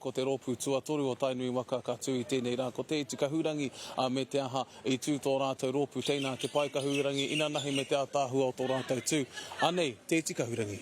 Ko te rōpū tuatoru o Tainui waka ka tū i tēnei rā ko Te Iti Kahurangi, ā, me te aha, i tū tō rātou rōpū teina a Te Pae Kahurangi inanahi me te ātaahua o tō rātou tū. Anei Te Iti Kahurangi.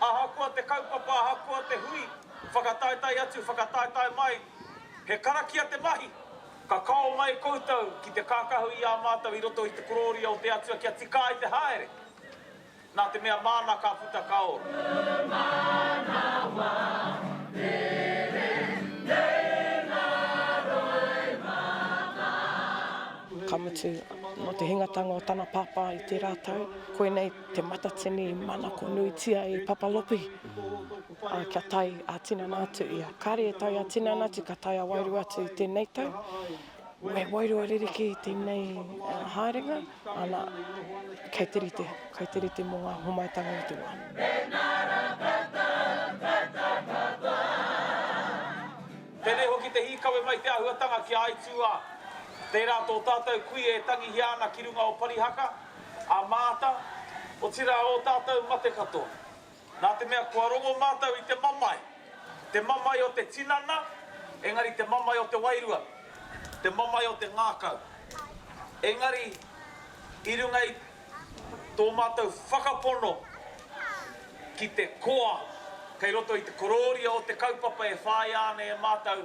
Ahakoa te kaupapa, ahakoa te hui, whakataetae atu, whakataetae mai, he karakia te mahi! Ka kao mai koutou ki te kākahu i a mātou i roto i te korōria o te Atua kia tika ai te haere, nā te mea māna ka puta ka ora. Uru manawa, rere nei ngā roimata a. Ka mutu, nō te hingatanga o tana pāpā i tērā tau, koinei. Te Matatini manako nuitia e Papalopi a, kia tae a tinana atu ia. Kare e tae a tinana atu, ka tae a wairua atu i tenei tau. Me wairua ririki i tenei uh, haerenga, ana, kei te rite, kei te rite mo nga homaetanga o te wa. Tenei hoki te hikawe mai te ahuatanga ki a Aituā. Tērā tō tātou kui e tangihia ana ki runga o Parihaka. a Maata, otirā ō tātou mate katoa. Nā te mea kua rongo mātou i te mamae, te mamae o te tinana, engari te mamae o te wairua, te mamae o te ngākau. Engari i runga i tō mātou whakapono ki te koa kei roto i te korōria o te kaupapa e whāia ana e mātou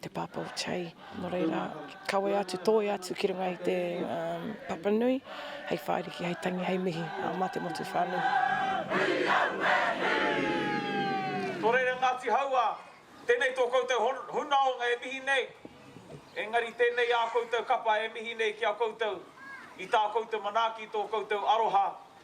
Te Pāpā o Che, nō reira, kawea atu, tōia atu ki runga i te um, papa nui, hei whāriki, hei tangi, hei mihi uh, mā te motu whānui. Nō reira Ngāti Hauā, tēnei tō koutou hunaonga e mihi nei, engari tēnei ā koutou kapa e mihi nei ki a koutou, i tā koutou manaaki tō koutou aroha